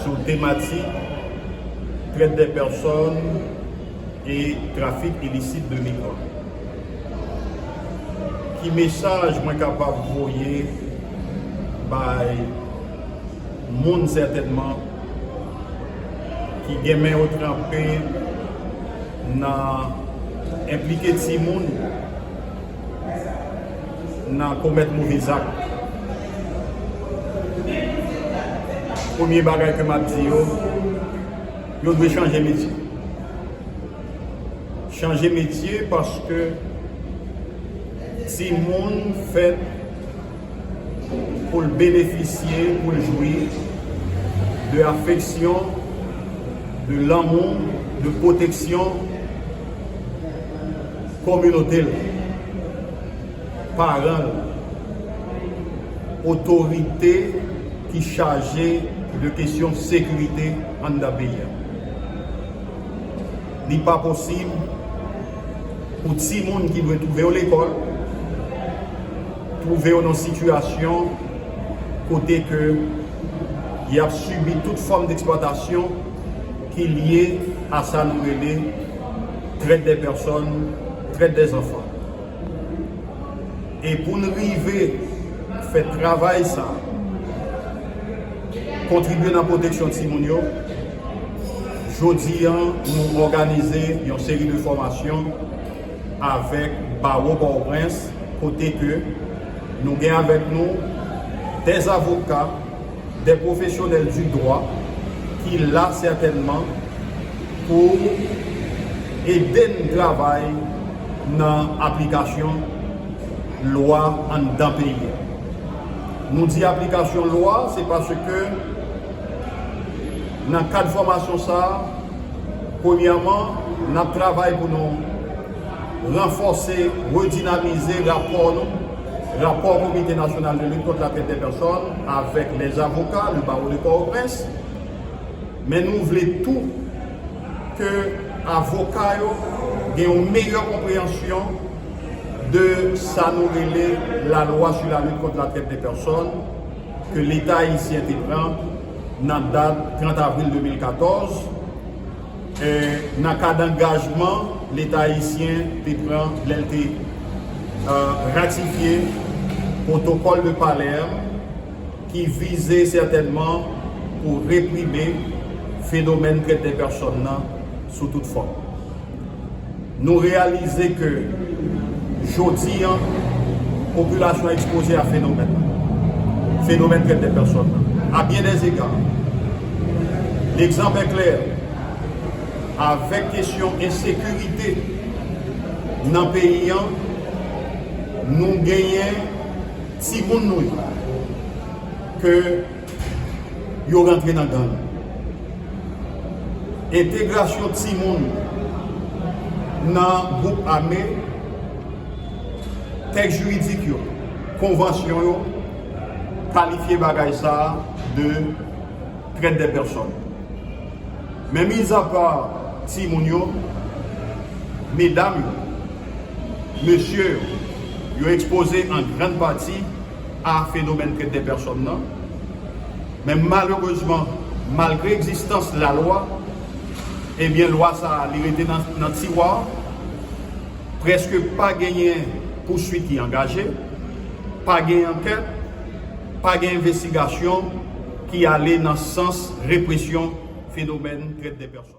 sou tematik Trèt dè pèsòn e trafik ilisit de migran. Ki mesaj mwen kapab voye bay moun sètènman ki gen men yo tranpe nan enplike timoun? nan komèt move zak. Premye bagay ke map di yo, yo dwe chanje metye. Chanje metye paske timoun fèt pou l benefisye, pou l jwi de afeksyon, de lanmou, de pwoteksyon kominote l. paran l, otorite ki chaje de kesyon sekirite anndan peyi a. Li pa posib pou timoun ki dwe twouve yo lekòl, twouve yo nan sitiyasyon kote ke y ap sibi tout fòm deksplwatasyon ki lye a sa nou rele trèt dè pèsòn, trèt dè zanfan. E pou n rive fè travay sa a, kontribye nan pwoteksyon timoun yo, jodi a nou òganize yon seri de fòmasyon avèk Bawo Pòtoprens kote ke nou gen avèk nou 2 avoka, De pwofesyonèl di dwa ki la sètènman pou ede n travay nan aplikasyon lwa anndan peyi a. Nou di aplikasyon lwa se paske nan kad fòmasyon sa a, premyèman, n ap travay pou nou ranfòse, redinamize rapò nou. Rapò Komite Nasyonal de Lit Kont Latrèt dè Pèsòn avèk lè avoka le Barreau de Port-au-Prince, men nou vle tou ke avoka yo gen yon meyè konpreyansyon de sa nou rele La Loi sur la lutte contre la traite des personnes ke Leta Ayisyen te pran nan dat 30 avril 2014, nan kad angajman Leta ayisyen te pran lè l te ratifye Protocole de Palerme ki vize sètènman pou reprime fenomèn trèt dè pèsòn nan sou tout fòm. Nou reyalize ke jodi an, popilasyon an ekspoze a fenomèn lan, fenomèn trèt dè pèsòn lan, a byen dè zega. Lekzanp è klè, avèk kesyon ensekirite nan peyi an, nou genyen timoun nou yo ke. yo rantre nan gang. Entegrasyon timoun nan gwoup ame, tèks jiridik yo, konvansyon yo kalifye bagay sa a de trèt dè pèsòn. Men mizapa timoun yo, medam yo, mesye yo, yo ekspoze an grann pati, a fenomèn trèt dè pèsòn nan, men malerezman malgre egzistans lalwa, ebyen lwa sa a li rete nan tiwa, prèske pa genyen pouswit ki angaje, pa gen ankèt, pa gen envestigasyon ki ale nan sans represyon fenomèn trèt dè pèsòn.